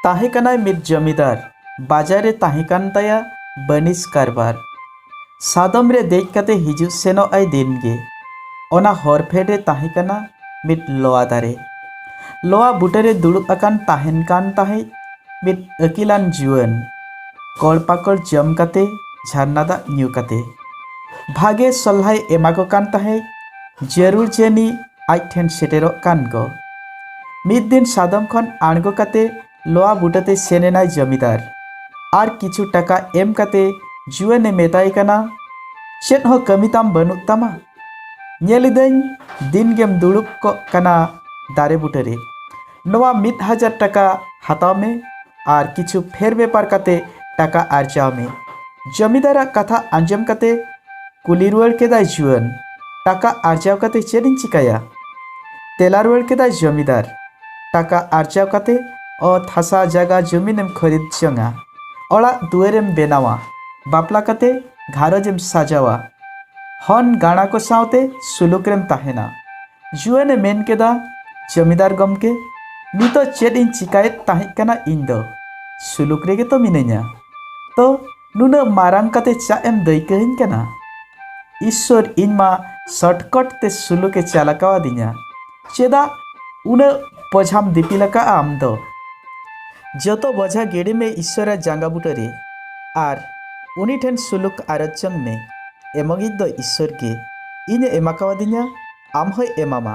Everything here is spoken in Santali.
ᱛᱟᱦᱮᱸ ᱠᱟᱱᱟᱭ ᱢᱤᱫ ᱡᱚᱢᱤᱫᱟᱨ ᱵᱟᱡᱟᱨ ᱨᱮ ᱛᱟᱦᱮᱸ ᱠᱟᱱ ᱛᱟᱭᱟ ᱵᱟᱹᱱᱤᱡ ᱠᱟᱨᱵᱟᱨ ᱥᱟᱫᱚᱢ ᱨᱮ ᱫᱮᱡ ᱠᱟᱛᱮ ᱦᱤᱡᱩᱜ ᱥᱮᱱᱚᱜ ᱟᱭ ᱫᱤᱱ ᱜᱮ ᱚᱱᱟ ᱦᱚᱨ ᱯᱷᱮᱰ ᱨᱮ ᱛᱟᱦᱮᱸ ᱠᱟᱱᱟ ᱢᱤᱫ ᱞᱚᱣᱟ ᱫᱟᱨᱮ ᱞᱚᱣᱟ ᱵᱩᱴᱟᱹ ᱨᱮ ᱫᱩᱲᱩᱵ ᱟᱠᱟᱱ ᱛᱟᱦᱮᱱ ᱠᱟᱱ ᱛᱟᱦᱮᱸᱫ ᱢᱤᱫ ᱟᱹᱠᱤᱞᱟᱱ ᱡᱩᱣᱟᱹᱱ ᱠᱚᱲ ᱯᱟᱠᱚᱲ ᱡᱚᱢ ᱠᱟᱛᱮ ᱡᱷᱟᱨᱱᱟ ᱫᱟᱜ ᱧᱩ ᱠᱟᱛᱮ ᱵᱷᱟᱜᱮ ᱥᱚᱞᱦᱟᱭ ᱮᱢᱟᱠᱚ ᱠᱟᱱ ᱛᱟᱦᱮᱸᱫ ᱡᱟᱹᱨᱩᱲ ᱡᱟᱹᱱᱤ ᱟᱡ ᱴᱷᱮᱱ ᱥᱮᱴᱮᱨᱚᱜ ᱠᱟᱱ ᱜᱚ ᱢᱤᱫ ᱫᱤᱱ ᱥᱟᱫᱚᱢ ᱠᱷᱚᱱ ᱟᱬᱜᱚ ᱠᱟᱛᱮ ᱞᱚᱣᱟ ᱵᱩᱴᱟᱹᱛᱮ ᱥᱮᱱ ᱮᱱᱟᱭ ᱡᱚᱢᱤᱫᱟᱨ ᱟᱨ ᱠᱤᱪᱷᱩ ᱴᱟᱠᱟ ᱮᱢ ᱠᱟᱛᱮ ᱡᱩᱣᱟᱹᱱᱮ ᱢᱮᱛᱟᱭ ᱠᱟᱱᱟ ᱪᱮᱫ ᱦᱚᱸ ᱠᱟᱹᱢᱤ ᱛᱟᱢ ᱵᱟᱹᱱᱩᱜ ᱛᱟᱢᱟ ᱧᱮᱞ ᱤᱫᱟᱹᱧ ᱫᱤᱱ ᱜᱮᱢ ᱫᱩᱲᱩᱵ ᱠᱚᱜ ᱠᱟᱱᱟ ᱫᱟᱨᱮ ᱵᱩᱴᱟᱹᱨᱮ ᱱᱚᱣᱟ ᱢᱤᱫ ᱦᱟᱡᱟᱨ ᱴᱟᱠᱟ ᱦᱟᱛᱟᱣ ᱢᱮ ᱟᱨ ᱠᱤᱪᱷᱩ ᱯᱷᱮᱨ ᱵᱮᱯᱟᱨ ᱠᱟᱛᱮ ᱴᱟᱠᱟ ᱟᱨᱡᱟᱣ ᱢᱮ ᱡᱚᱢᱤᱫᱟᱨᱟᱜ ᱠᱟᱛᱷᱟ ᱟᱸᱡᱚᱢ ᱠᱟᱛᱮ ᱠᱩᱞᱤ ᱨᱩᱣᱟᱹᱲ ᱠᱮᱫᱟᱭ ᱡᱩᱣᱟᱹᱱ ᱴᱟᱠᱟ ᱟᱨᱡᱟᱣ ᱠᱟᱛᱮ ᱪᱮᱫ ᱤᱧ ᱪᱤᱠᱟᱹᱭᱟ ᱛᱮᱞᱟ ᱨᱩᱣᱟᱹᱲ ᱠᱮᱫᱟᱭ ᱡᱚᱢᱤᱫᱟᱨ ᱴᱟᱠᱟ ᱟᱨᱡᱟᱣ ᱠᱟᱛᱮ ᱚᱛ ᱦᱟᱥᱟ ᱡᱟᱭᱜᱟ ᱡᱚᱢᱤᱱᱮᱢ ᱠᱷᱚᱨᱤᱫ ᱡᱚᱝᱟ ᱚᱲᱟᱜ ᱫᱩᱣᱟᱹᱨᱮᱢ ᱵᱮᱱᱟᱣᱟ ᱵᱟᱯᱞᱟ ᱠᱟᱛᱮ ᱜᱷᱟᱨᱚᱸᱡᱽ ᱮᱢ ᱥᱟᱡᱟᱣᱟ ᱦᱚᱱ ᱜᱟᱬᱟ ᱠᱚ ᱥᱟᱶᱛᱮ ᱥᱩᱞᱩᱠ ᱨᱮᱢ ᱛᱟᱦᱮᱱᱟ ᱡᱩᱣᱟᱹᱱᱮ ᱢᱮᱱ ᱠᱮᱫᱟ ᱡᱚᱢᱤᱫᱟᱨ ᱜᱚᱢᱠᱮ ᱱᱤᱛᱚᱜ ᱪᱮᱫ ᱤᱧ ᱪᱤᱠᱟᱭᱮᱫ ᱛᱟᱦᱮᱸ ᱠᱟᱱᱟ ᱤᱧ ᱫᱚ ᱥᱩᱞᱩᱠ ᱨᱮᱜᱮ ᱛᱚ ᱢᱤᱱᱟᱹᱧᱟ ᱛᱚ ᱱᱩᱱᱟᱹᱜ ᱢᱟᱨᱟᱝ ᱠᱟᱛᱮ ᱪᱟᱜ ᱮᱢ ᱫᱟᱹᱭᱠᱟᱹᱧ ᱠᱟᱱᱟ ᱤᱥᱥᱚᱨ ᱤᱧ ᱢᱟ ᱥᱚᱨᱴᱠᱚᱴ ᱛᱮ ᱥᱩᱞᱩᱠᱮ ᱪᱟᱞ ᱟᱠᱟᱣᱟᱫᱤᱧᱟ ᱪᱮᱫᱟᱜ ᱩᱱᱟᱹᱜ ᱵᱚᱡᱷᱟᱢ ᱫᱤᱯᱤᱞ ᱟᱠᱟᱜᱼᱟ ᱟᱢ ᱫᱚ ᱡᱚᱛᱚ ᱵᱚᱡᱷᱟ ᱜᱤᱰᱤ ᱢᱮ ᱤᱥᱥᱚᱨᱟ ᱡᱟᱸᱜᱟ ᱵᱩᱴᱟᱹ ᱨᱮ ᱟᱨ ᱩᱱᱤ ᱴᱷᱮᱱ ᱥᱩᱞᱩᱠ ᱟᱨᱚᱡ ᱡᱚᱝ ᱢᱮ ᱮᱢᱚᱜᱤᱡ ᱫᱚ ᱤᱥᱥᱚᱨ ᱜᱮ ᱤᱧᱮ ᱮᱢᱟᱠᱟᱣᱟᱫᱤᱧᱟ ᱟᱢ ᱦᱚᱸᱭ ᱮᱢᱟᱢᱟ